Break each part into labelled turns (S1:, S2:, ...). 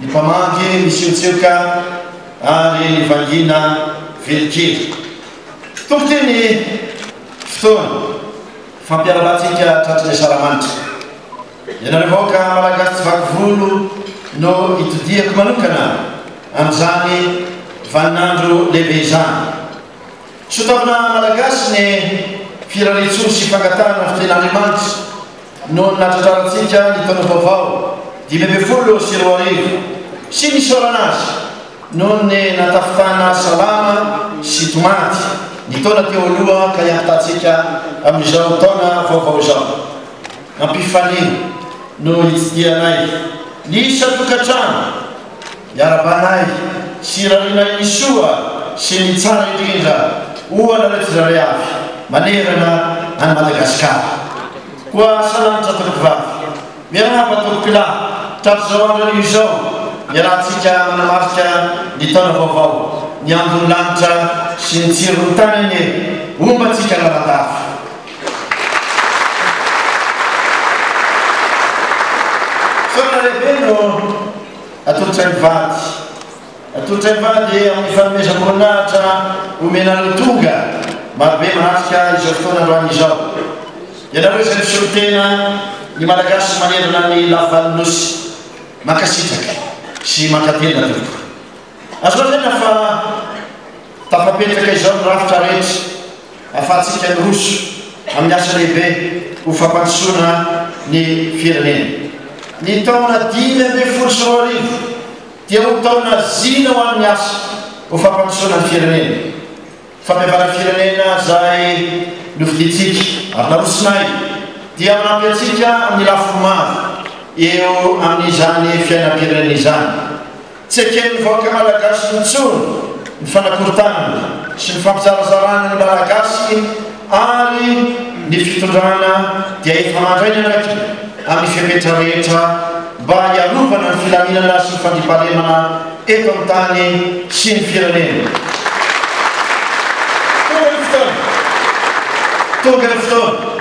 S1: Ny mpamaky misiotsioka ary vangiana velin-kery. Tompok'ity ny fotoana fampiarabantsika tratry ny asaramanitra. Ianareo vahoaka Malagasy tsy vaky volo no itodihako manokana amin'izany vaninandro lehibe izany. Soa taona Malagasy ny firariantsoa sy fangatahana fitenin'Andriamanitra. noho ny nahatratrarantsika ny taona vaovao dimy ambin'ny folo sy roa arivo sy ny nisaorana azy noho ny nahatafitana salama sy tomady ny taona teo aloha ka hiampitahantsika amin'izao taona vaovao izao. Ampifania no hitsidihanay ny isan-tokantrano. Miara-banahy sy Rahonahy ny soa sy ny tsara indrindra ho anareo tsirairay avy manerana an'i Madagasikara. Koa asa lalitra tompokivavy. Miarahaba tompokolahy tamin'izao andro anio izao iarahantsika manamarika ny taona vaovao. Ny andron'ny lanitra sy ny tsiron'ny tany anie ombantsika lalandava. Feona lehibe no atolotray mivady. Atolotray mivady amin'ny fanomezam-boninahitra omenareo tonga marobe miratrika izao fotoana androany izao. Ianareo izay misolo tena ny Malagasy manerana ny lavan'ny Nosy. Mankasitraka sy mankatena tompoko. Azo lazaina fa. Tafapetraka izao ny rafitra rehetra ahafahantsika miroso amin'ny asa lehibe ho fampandrosoana ny firenena. Ny taona dimy ambin'ny folo sy roa arivo dia ho taona zina ho an'ny asa ho fampandrosoana ny firenena. Famevanan firenena izay nofidintsika ary narosonay dia manampy antsika amin'ny lafiny maro eo amin'izany fiainam-pirenena izany. Tsy eken'ny vahoaka Malagasy intsony ny fanakorontanana sy ny fampizarazarana ny Malagasy ary ny fitondrana dia efa mandray ny andraikiny amin'ny fepetra rehetra mba hiarovana ny filaminana sy ny fandriampahalemana eto amin'ny tany sy ny firenena. Tonga ny fotoana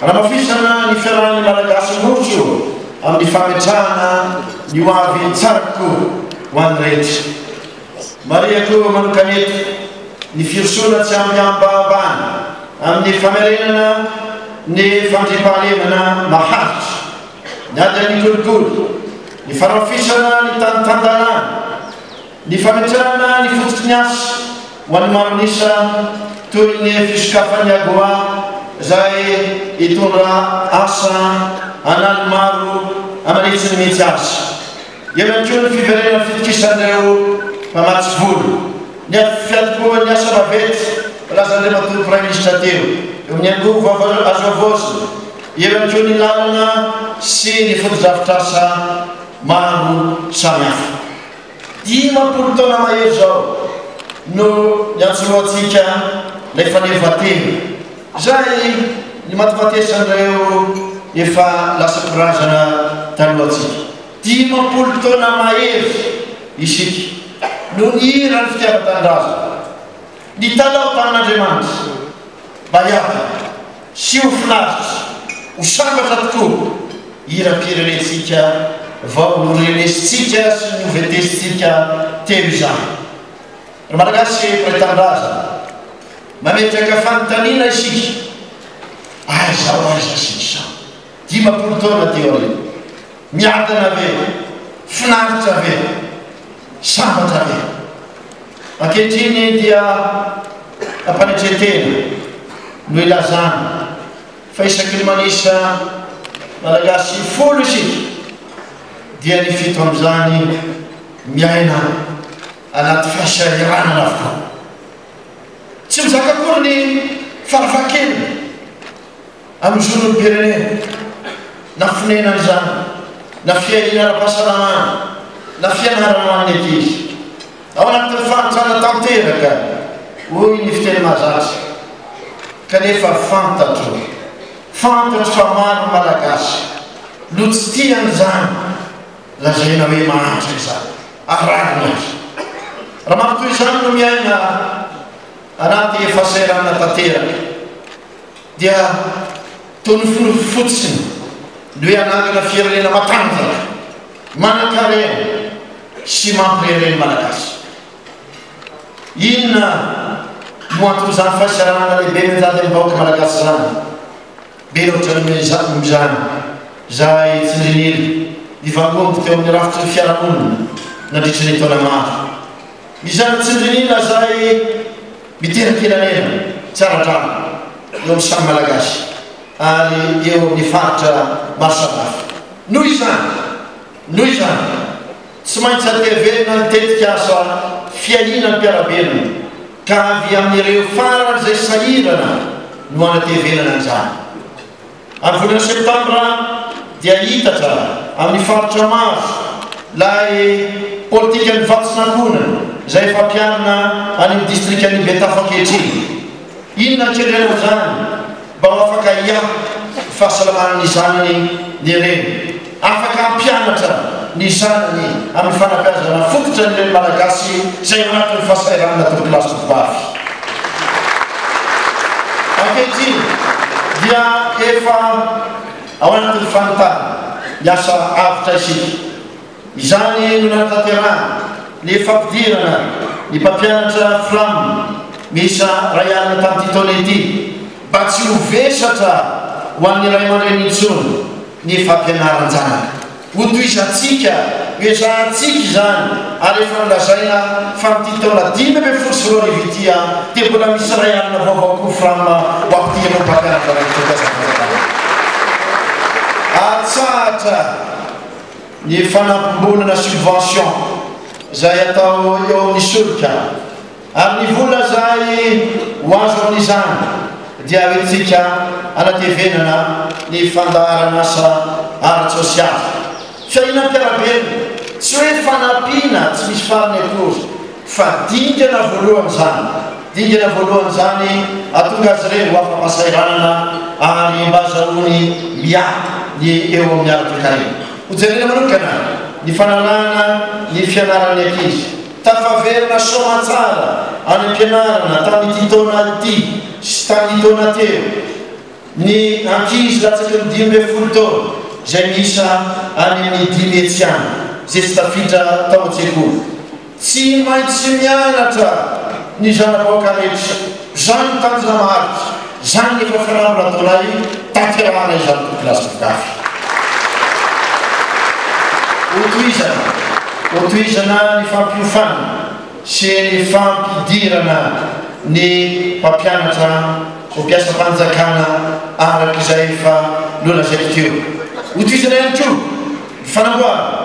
S1: hanamafisana ny fiarahan'ny Malagasy miroso amin'ny fametrahana ny ho avy tsara kokoa ho an'ny rehetra. Marihako manokana eto ny firosoana tsy ampy ambahambany amin'ny famerenana ny fandriampahalemana maharitra, ny ady amin'ny kolikoly, ny fanamafisana ny tany tan-dalàna, Ny fametrahana ny fototsy ny asa ho an'ny maron'isa toy ny fisokafan'ny Agoa izay hitondra asa an'aliny maro aman'hetsiny mihitsy aza. Eo ihany koa ny fiverenan'ny fitokisan'ireo mpamatsy vola. Ny fiantombohan'ny asa vaventy filazan'Andriamatoa Praiminisitra teo eo amin'ny angovo vaovao azo havaozina. Eo ihany koa ny lalana sy ny fotodrafitrasa maro samihafa. Dimampolo taona mahery izao no niantsorohantsika ilay fanehoan-tena. Izay ny matimatesan'ireo efa lasa mpirazana talohantsika. Dimampolo taona mahery isika no nihira ny fitiavan-tanindrazana, nitalaho tamin'Andriamanitra mba hiadana. Sy ho finaritra, ho sambatra tokoa, hiram-pirenentsika vao norenesintsika sy novetesintsika teo izany. Ry Malagasy mpiray tanindrazana, mametraka fanontaniana isika, aiza ho aiza isika izao, dimampolo taona teo aoriana? Miadana ve? Finaritra ve? Sambatra ve? Ankehitriny dia am-panetren-tena no ilazana fa isaky ny manisa Malagasy folo isika dia ny fito amin'izany miaina anaty fahasahiranana avokoa. Tsy mizaka akory ny farafahakeliny. amin'ny zon'olom-pirenena, na fonenana izany, na fiahiana ara-pahasalamana, na fianarana ho an'ny ankizy. Ao anatin'ny fahantrana tanteraka, hoy ny fiteny mahazatra. Kanefa fantatro, fantatro fa maro ny Malagasy no tsy tia an'izany lazaina hoe mahantra izany, arahina aza. Raha matoa izany no miaina anaty fahasahiranana tanteraka, dia toa noforoniko fotsiny ny hoe hanangana firenena matanjaka, manankarena sy mampirehareha ny Malagasy. Inona no anton'izany fahasahiranana lehibe mianjady amin'ny vahoaka Malagasy izany? Be loatra noho izany izay tsindrin'ila nivangongo teo amin'ny rafitry ny fiarahamonina nandritry ny taona maro. Izany tsindrin'ila izay Miteny filaminana tsy ara-drariny eo amin'ny samy Malagasy ary eo amin'ny faritra maro samihafa. Noho izany, noho izany, tsy maintsy antevenina ny tetikasa fiahiana ny mpiara-belona ka avy amin'ireo faran'izay sahirana no anatevenana izany. Ary volana septambra dia hiitatra amin'ny faritra maro lay politikan'ny vatsy sankoana izay efa ampiharina any amin'ny distrikan'i Betafo ankehitriny. Inona ankendrena izany mba ho afaka hiahy ny fahasalaman'ny zanany ny reny? Afaka hampianatra ny zanany amin'ny fanabeazana fototra ny Reny Malagasy izay ao anatin'ny fahasahiranana torokilasy Tovovavy. Ankehitriny dia efa ao anatin'ny fanontana ny asa avotra isika. Izany no nanatanterahana ny fampidirana ny mpampianatra Fram miisa iray alina tamin'ity taona ity mba tsy ho vesatra ho an'ny ray aman-dreny intsony. Ny fampianaran-janaka. Hotohizantsika, hoezahantsika izany, ary efa nolazaina fa amin'ity taona dimy ambin'ny folo sy roa arivo ity dia mbola misy ray alina vaovao Cufram ho amin'ity ireo mpampianatra avy eto Tanzania. Atsahatra ny fanampim-bola na subvention izay atao eo amin'ny solika. ary ny vola izay ho azo amin'izany dia hoentintsika hanatevenana ny fandaharan'asa ara-tsosialy, fiainam-piarahabelona, tsy hoe fanampiana tsy misy farany akory fa dingana voalohany izany, dingana voalohany izany hahatonga azy ireny ho afa-pahasahiranana ary mba hazahoany miahy ny eo amin'ny ara-toekarena. Hojerena manokana ny fananahana ny fianaran'ny ankizy. Tafaverina soamatsara any am-pianarana tamin'ity taona ity sy tamin'ny taona teo ny ankizy latsaky ny dimy ambin'ny folo taona izay miisa any amin'ny dimy hetsy any izay tsy tafiditra tao an-tsekoly. Tsy maintsy mianatra ny zanaboaka rehetra. Izany no tanjona maharitra, izany no efa filambo nataonay tanterahana izany kokilasy mpigafy. Hotohizana, hotohizana ny fampiofana sy ny fampidirana ny mpampianatra ho mpiasam-panjakana araka izay efa nolazaiko teo. Hotohizana ihany koa ny fanamboarana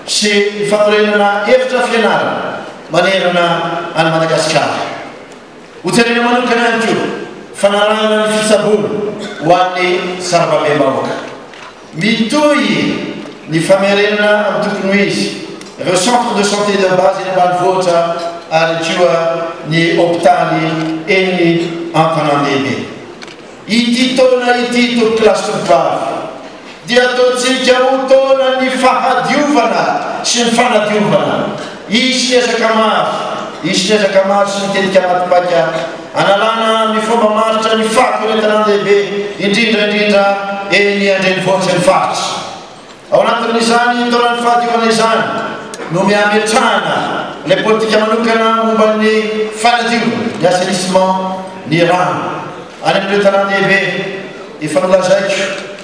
S1: sy ny fanorenana efitra fianarana manerana an'i Madagasikara. Hojerena manokana ihany koa fanarahana ny fitsaboana ho an'ny sarababem-bahoaka. Mitohy ny famerenana amin'ny tokony ho izy ireo centre de santé de base eny ambanivohitra ary koa ny hopitaly eny an-tanàn-dehibe. Ity taona ity, tompokolahy sy tovovavy, dia ataontsika ho taonan'ny fahadiovana sy ny fanadiovana. Hisy ny ezaka maro, hisy ny ezaka maro sy ny tetika matipaika analana amin'ny fomba maharitra ny fahakorontanandehibe, indrindra indrindra eny an-drenivohitry ny faritra. Ao anatin'izany taona fahadiovana izany no miametrahana ilay politika manokana momba ny fanadiovana, ny assainissement, ny rano. Any amin'ireo tanàn-dehibe efa nolazaiko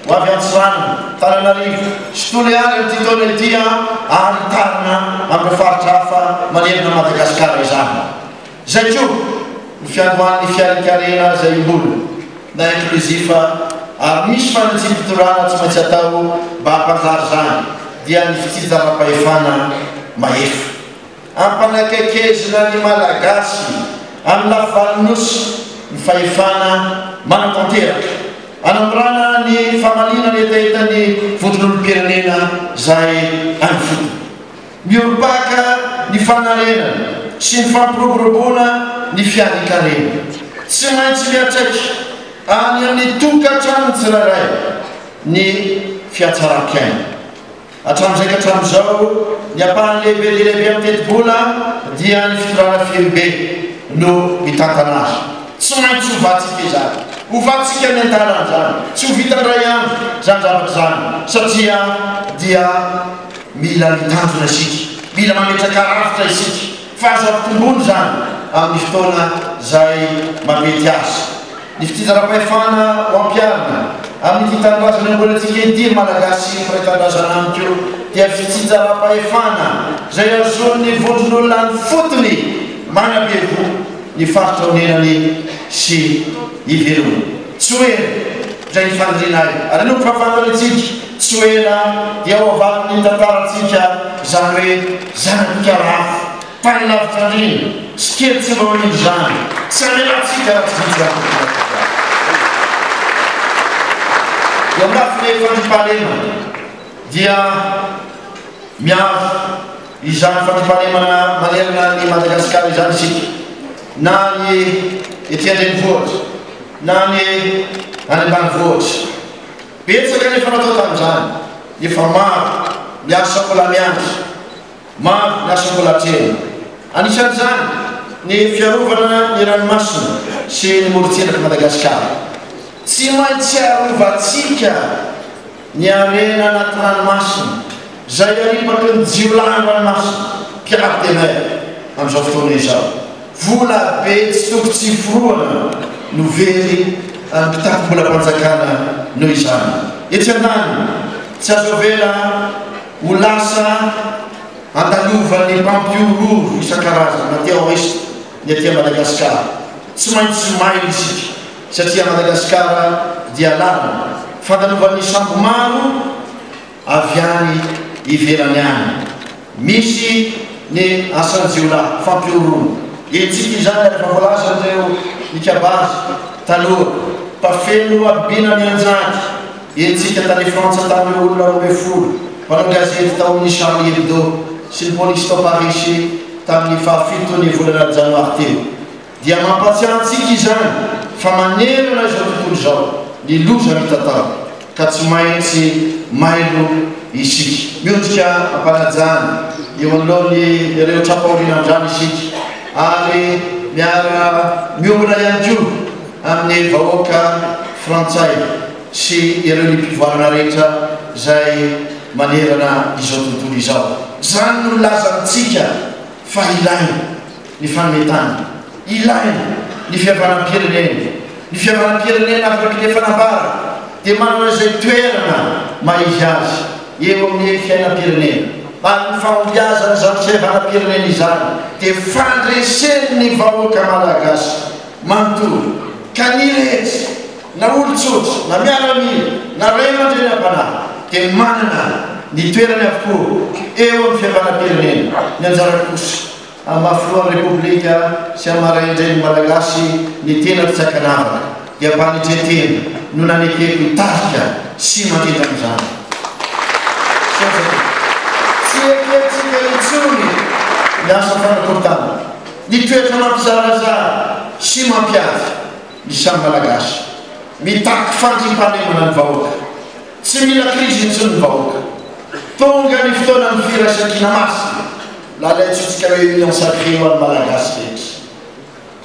S1: ho avy Antsiranana, Tananarivo sy Toliary amin'ity taona ity ary hitarina amin'ireo faritra hafa manerana an'i Madagasikara izany. Izay koa ny fiandohan'ny fiarinkarena izay im-bola na inclusif ary misy fanatsiam-pitondrana tsy maintsy atao mba hampanjary izany dia ny fitsinjaram-pahefana mahefa. Ampanakaikezina ny Malagasy amin'ny lafivalon'ny Nosy ny fahefana manatanteraka, anamorana ny famaliana ny hetahetan'ny Vondron'olom-pirenena izay any ifotony. Miorim-paka ny fanarenana sy ny fampiroboroboana ny fiadikarena. Tsy maintsy miantraika any amin'ny tokantrano tsirairay ny fiatsaram-piaina. Hatramin'izay ka hatramin'izao, ny ampahany lehibe dia lehibe amin'ny tetibola dia ny fitondrana firibe no mitantana azy. Tsy maintsy hovantsika izany. Hovantsika any an-dalana izany. Tsy ho vita indray andro izany zavatra izany satria dia. Mila mitandrina isika, mila mametraka rafitra isika fa azo ampitomboina izany amin'ny fotoana izay mamety azy. Ny fitsinjaram-pahefana ho ampiharina amin'ity tanindrazana iombonantsika ity, ry Malagasy mpiray tanindrazana amiko, dia fitsinjaram-pahefana izay hahazoan'ny vondron'olona an'fotony manabe voho ny faritra onenany sy ivelomany. Tsy ho ela. Izay ny fanirianay. Ary aloha koa fantany hoe tsika, tsy ho ela dia ho avalin'ny tantarantsika izany hoe zana-bika lafo, tany lavitra andriana, sy kely tsy mba ho indro izany. Tsy hamelantsika raha tsy vitsy izany fitiavantsika izany. Eo anatiny fandriampahalemana dia miaro. Izany fandriampahalemana manerana an'i Madagasikara izany isika, na ny ety an-drenivohitra, na ny any ambanivohitra. Betsaka ny efa natao tamin'izany, nefa maro ny asa mbola miandry, maro ny asa mbola hatrehina. Anisan'izany ny fiarovana ny ranomasina sy ny morontsirak'i Madagasikara. Tsy maintsy arovantsika! Ny harena anaty ranomasina, izay aribaky ny jiolahin'ny ranomasina, quart de mer, amin'izao fotoana izao. Vola be tsy toko tsy iforohana no very an'ny mpitakom-bolam-panjakana noho izany. Etsy andaniny, tsy azo avela ho lasa andalovan'ny mpampihorohoro isan-karazany na terroristes ny aty Madagasikara. Tsy maintsy mailo isika. satria Madagasikara dia lalina fankalovan'ny sambo maro avy any ivelany any. Misy ny asan-jiolahy fampihoroana hetsika izany ary efa voalazan'ireo mikabaza taloha fa feno nohabibiana nianjady hetsika tany Frantsa tany ireo olona roa ambin'ny folo mpanao gazety tao amin'ny Charlie Hebdo sy ny polisy tao Parisy tamin'ny fahafitony volana Janoary teo. dia mampahatsiahy antsika izany fa manerana izao tontolo izao ny loza mitatao ka tsy maintsy mailo isika. Miondrika am-panajana eo anoloany ireo tra-pahorian'Andriana isika ary miara miomana ihany koa amin'ny vahoaka frantsay sy ireo ny mpivoarana rehetra izay manerana izao tontolo izao. Izany no nilazantsika fa ilaina. ny fanometana ilaina ny fihavanam-pirenena, ny fihavanam-pirenena avy amin'ny lefanambara dia manana izay toerana maha izy azy eo amin'ny fiainam-pirenena ary ny fahombiazan' izany fihavanam-pirenena izany dia fandresen' ny vahoaka malagasy manontolo ka ny rehetra na olon-tsotra na miaramila na ray aman-drenim-panahy dia manana ny toerany avokoa eo amin'ny fihavanam-pirenena, ny anjara kosa Mba filohan'ny Repoblika sy amin'ny marain-dren'ny Malagasy ny tena mpitsakanavaka dia mba ny tretena no nanekeko hitarika sy mandrindra an'izany. Tsy eketsika intsony ny asa fanakorontana, ny toetra mampizarazara sy mampiady ny samy Malagasy. Mitaky fandriampahalemana ny vahoaka. Tsy mila krizy intsony ny vahoaka. Tonga ny fotoanan'ny firaisan-kina masina. Lalaintsika Réunion sacrée ho an'ny Malagasy rehetra.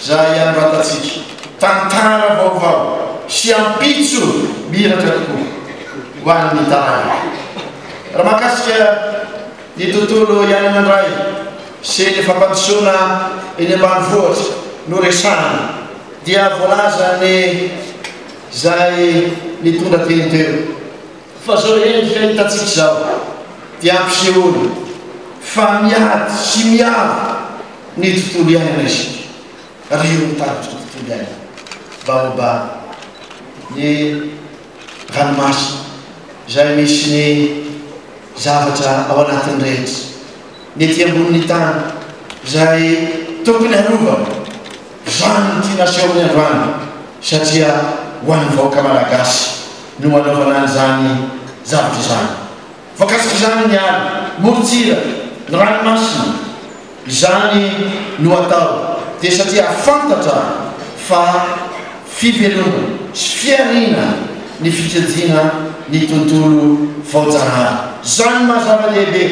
S1: Za ihany ratatsika. Tantara vaovao sy ampitso miratra tokoa ho an'ny taranaky. Raha mahakasika ny tontolo iainana indray sy ny fampandrosoana eny ambanivohitra no resahina dia voalazan'ny izay nitondra teny teo. Fa zao re ny fiahitantsika izao dia ampisehoana fa miady sy miaro ny tontolo iainana isika ary ireo mitarika ny tontolo iainana baomba ny ranomasina izay misy ny zavatra ao anatiny rehetra, ny ety ambonin'ny tany izay tokony harovana. Izany no tiana asehony androany satria ho an'ny vahoaka Malagasy no anaovana an'izany zavatra izany. Voakasika izany ny ala, morontsiraka, ny ranomasina. Izany no atao dia satria hahafantatra fa fivelomana sy fihariana ny fitsinjina ny tontolo vaojanahary. Izany no maha zava-dehibe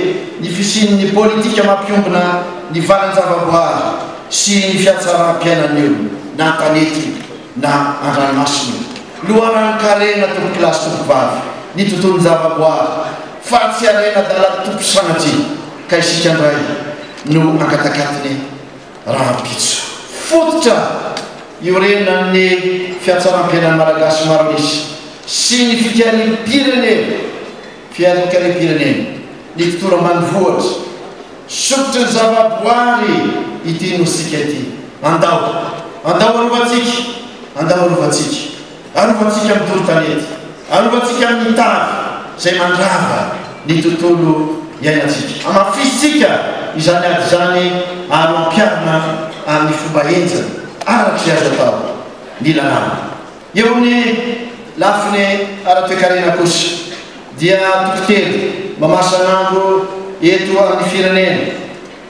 S1: ny fisian'ny politika mampiombona ny valan-javaboary. sy ny fiatsaram-piainan'ny olona na an-tanety na an-dranomasina, loharanon-karena tompokolahy sy tompovavy, ny tontolon-javaboary, fa tsy harena adalan'ny Tompo sanatria ka isika indray no hankatakatiny rahampitso. Fototra iorenan'ny fiatsaram-piainan'ny Malagasy maro an'isa sy ny fikariam-pirenena. Fianakavian'ny Lektora Manivohitra, sokitry ny zavaboary ity Nosika ity. Andao! Andao arovantsika! Andao arovantsika! Arovantsika amin'ny doro tanety, arovantsika amin'ny tavy izay mandrava ny tontolo iainantsika. Hamafisintsika izany ady izany ary ho ampiharina amin'ny fomba henjana araka izay azo atao ny lalàna. Eo amin'ny lafiny ara-toekarena kosa dia toko telo mamasan'andro eto amin'ny firenena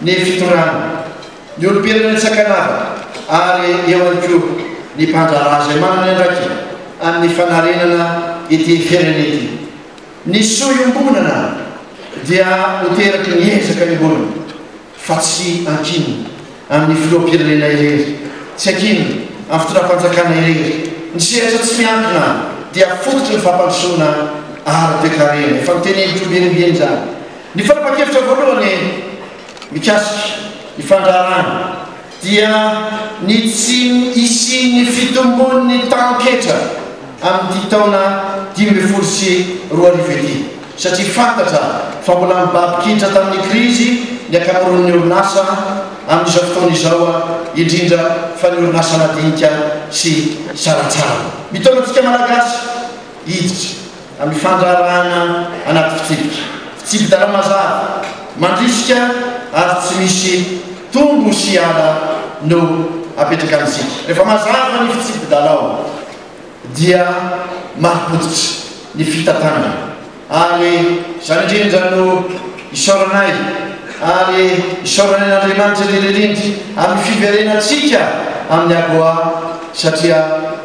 S1: ny fitondrana, ny olom-pirenena tsy an-kanavaka ary eo ihany koa ny mpandraharaha izay manana ny andraikiny amin'ny fanarenana ity firenena ity. Ny soa iombonana dia ho teraky ny ezaka iombonana. fa tsy ankinina amin'ny filoham-pirenena irery, tsy ankinina amin'ny fitondram-panjakana irery, ny sehatra tsy miankina dia fototry ny fampandrosoana ara-toekarena, efa notenenin'i Koby Renibe izany, ny fanapan-kevitra voalohany mikasika ny fandraharahana. dia ny tsy hisian'ny fitombon'ny tahan-ketra amin'ity taona dimy ambin'ny folo sy roa arivo ity, satria fantatra fa mbola mibaby-kitra tamin'ny krizy ny ankamaroan'ny orinasa amin'izao fotoana izao, indrindra fa ny orinasa madinika sy sarantsarany. Mitaona antsika Malagasy hiditra. amin'ny fandraharahana anaty fitsipika fitsipi-dalàna mazava, mandrisika ary tsy misy tombo sy ala no apetraka amintsika. Rehefa mazava ny fitsipi-dalao dia marim-pototra ny fitantanana ary izany indrindra no isaoranay ary isaoranay an'Andriamanitra indrindra indrindra amin'ny fiverenantsika amin'ny AGOA satria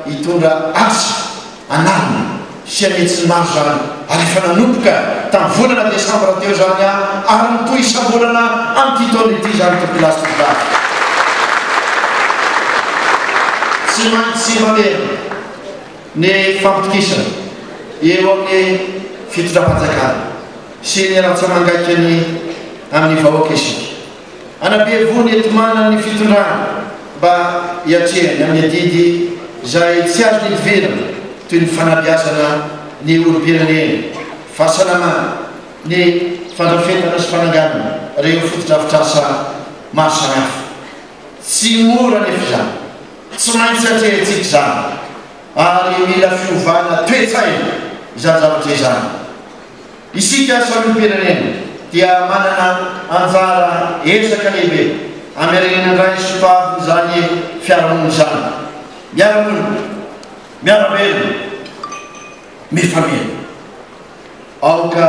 S1: hitondra asa anarina sy an'hetsiny maro izany ary efa nanomboka tamin'ny volana desambra teo izany ary mitohy isam-bolana amin'ity taona ity izany topilasy tovolahy tsy maintsy mandeha ny fampitokisana eo amin'ny fitondram-panjakana sy ny rantsamangaikany amin'ny vahoaka isika. Anampihevoany enti-manana ny fitondrana mba hiatrehany amin'ny adidy izay tsy azo nidivirana toy ny fanabeazana ny olom-pirenena, fahasalamana, ny fandrafetana sy fananganana ireo fotodrafitrasa maro samihafa. Tsy mora anefa izany, tsy maintsy atrehintsika izany ary mila fiovana toe-tsaina izany zavatra izany. Isika Solom-pirenena dia manana anjara ezaka lehibe hamerenana indray sokaly izany fiarahamonina izany, miara-monina, miara-velona, mifameno. Aoka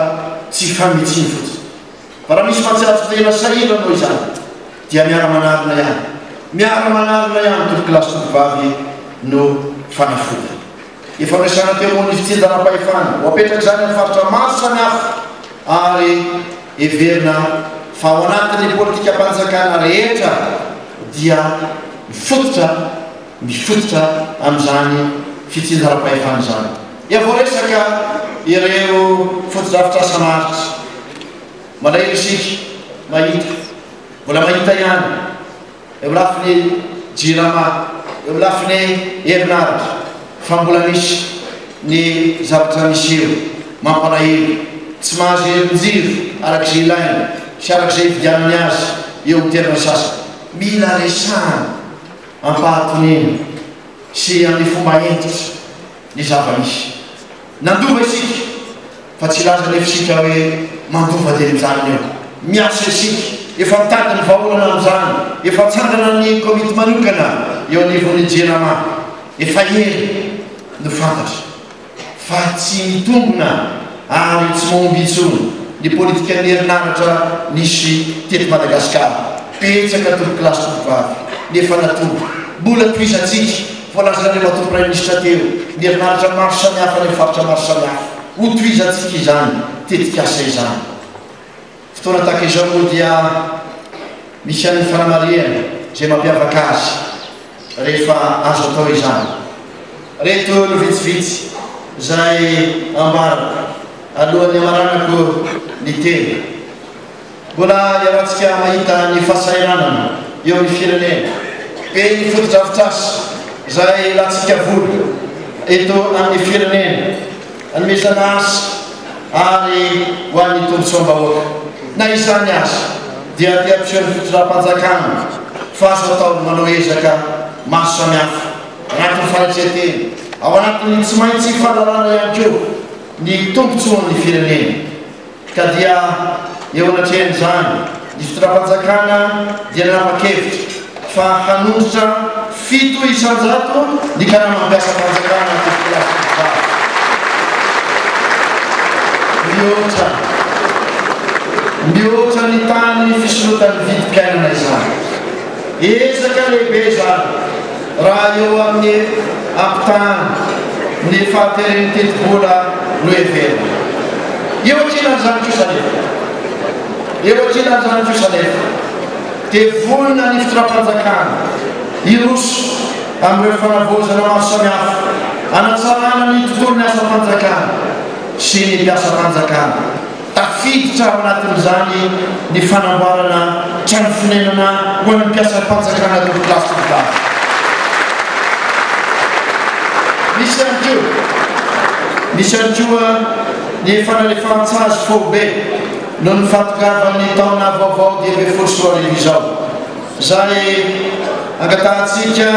S1: tsy hifamintsino fotsiny, fa raha misy mahatsiaro tsy tena sahirana noho izany, dia miara-manarina ihany, miara-manarina ihany, tompokolahy sy tovovavy, no fanafodiny. Efa misy antemony fitsinjaram-pahefana ho apetratr'izany amin'ny faritra maro samihafa ary heverina fa ao anatin'ny politikam-panjakana rehetra dia mifototra mifototra amin'izany fitsinjaram-pahefana izany. Dia voaresaka ireo fotodrafitrasa maharitra. Malahelo isika mahita, mbola mahita ihany. eo lafiny jirama, eo lafiny herinaratra fa mbola misy ny zavatra miseho mampalahelo, tsy mahazo herin-jiro araka izay ilaina sy araka izay ividianany azy eo amin'ny toerana sasany. Mila resahana am-pahatoniana sy amin'ny fomba hentitra ny zava-misy. Nandova isika, fa tsy hilaza anefa isika hoe mandova teny amin'izany eo. Miasa isika, efa nitady ny vahaolana amin'izany, efa nitsangana ny komity manokana eo anivon'ny Jirama, efa ela no fantatra fa tsy mitombina ary tsy mahomby intsony ny politikan'ny herinaratra nisy teto Madagasikara. Betsaka tompokolahy sy tompovavy ny efa natory, mbola tohizantsika. Voalazan'Andriamatoa Praiminisitra teo ny herinaratra maro samihafa any amin'ny faritra maro samihafa. Hotohizantsika izany tetikasa izany. Fotoana tahaka izao moa dia misy ihany ny fanamarihana izay mampiavaka azy rehefa azo atao izany. Reto no vitsivitsy izay ambarako alohan'ny hamaranako ny teny. Mbola iharantsika mahita ny fahasahiranana eo amin'ny firenena, be ny fotodrafitrasa izay ilantsika vola eto amin'ny firenena, anomezana asa ary ho an'ny tombontsoam-bahoaka. Na izany aza dia te hampiseho ny fitondram-panjakana fa azo atao ny manao ezaka maro samihafa anatin'ny fanaitren-tena, ao anatin'ny tsy maintsy fahalalana ihany koa ny tombontsoan'ny firenena. Ka dia eo anatrehan'izany, ny fitondram-panjakana dia nanapa-kevitra fa hanondrotra fito isan-jato ny karaman'ny mpiasam-panjakana aty Filasintsara. Mihoatra, mihoatra ny tamin'ny fisorontan'ny vidim-piainana izany. Ezaka lehibe izany. Raha eo amin'ny ampitahana ny fahateren'ny tetibola no heverina. Eo ankilan'izany kosa anefa, eo ankilan'izany kosa anefa, dia vonona ny fitondram-panjakana hiroso amin'ireo fanavaozana maro samihafa hanatsarana ny tontolon'ny asam-panjakana sy ny mpiasam-panjakana. Tafiditra ao anatin'izany ny fanamboarana trano fonenana ho an'ny mpiasam-panjakana eto Place du Parc. Misy ihany koa Misy ihany koa ny efa nalefahan-tsazy foibe noho ny fahatongavan'ny taona vaovao dimy ambin'ny folo sy roa arivo izao. Izay angatahantsika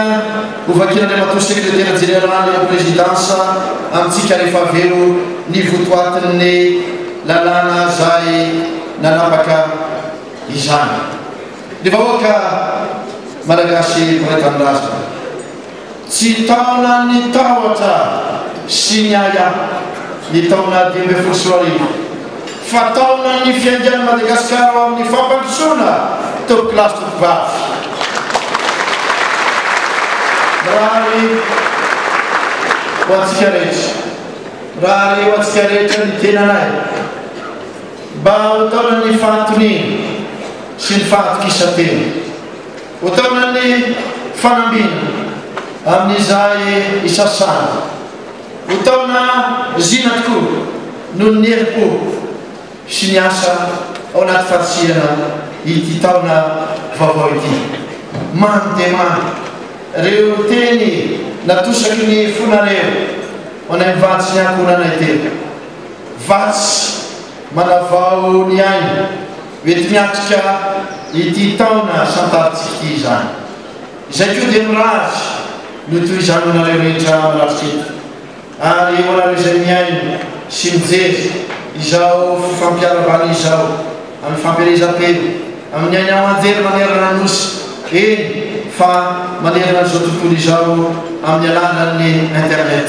S1: hovakian'Andriamatoa Sekretera Jeneraly ao Prezidansa amintsika rehefa avy eo ny votoatin'ny lalàna izay nanapaka izany. Ny vahoaka Malagasy mpiray tanindrazana. Tsy taona ny tahotra sy ny ahiahy ny taona dimy ambin'ny folo sy roa arivo fa taona ny fiaingan'i Madagasikara ho amin'ny fampandrosoana toby kilasy tovovavy. Mirary ho antsika rehetra. Mirary ho antsika rehetra ny tenanay mba ho taonan'ny fahatoniana sy ny fahatokisan-tena. Hotaonan'ny fanambina amin'izay isasana. Ho taona zina tokoa noho ny herim-po sy ny asa ao anaty farisihana ity taona vaovao ity. Mando dia mando ireo teny natosaky ny fonareo ho anay mivady sy ny ankohonanay telo. Vatsy manavao ny aina. Mety miatrika ity taona santarintsika ity izany. Izay koa dia mirary ny ho toy izany ho anareo rehetra manatrika eto, ary ho anareo izay mihaino sy mijery izao fifampiarahabana izao amin'ny fampielezam-peo, amin'ny aina aman-jery manerana ny Nosy, eny fa manerana an'izao tontolo izao amin'ny alalan'ny internet.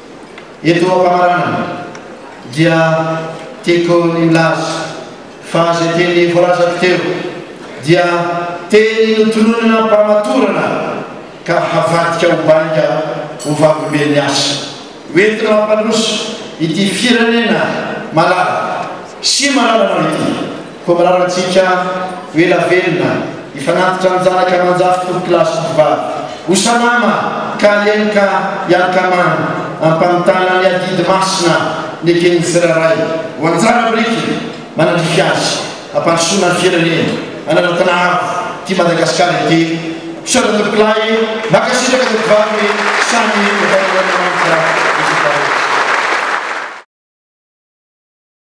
S1: Eto am-pamaranana dia tiako ny milaza fa izay teny voalazako teo dia teny notononina am-pamatorana ka havadika ho bainga ho vavolombelon'ny asa ho entina mampandroso ity firenena malala sy malalanao ity. Koa mirary antsika ho ela velona, hifanantitra amin'ny zanaka aman-jafy tovokolahy sy tovovavy. Ho salama ka hianoka hiankamana am-pamitana ny adidy masina neken'ny tsirairay ho anjara biriky manandrify azy hampandrosoana ny firenena ananantena avo ity Madagasikara ity. Misaotra tovokolahy e! Mankasitraka tovovavy samy ho vaindohan'Andriamanitra izy roa rehetra.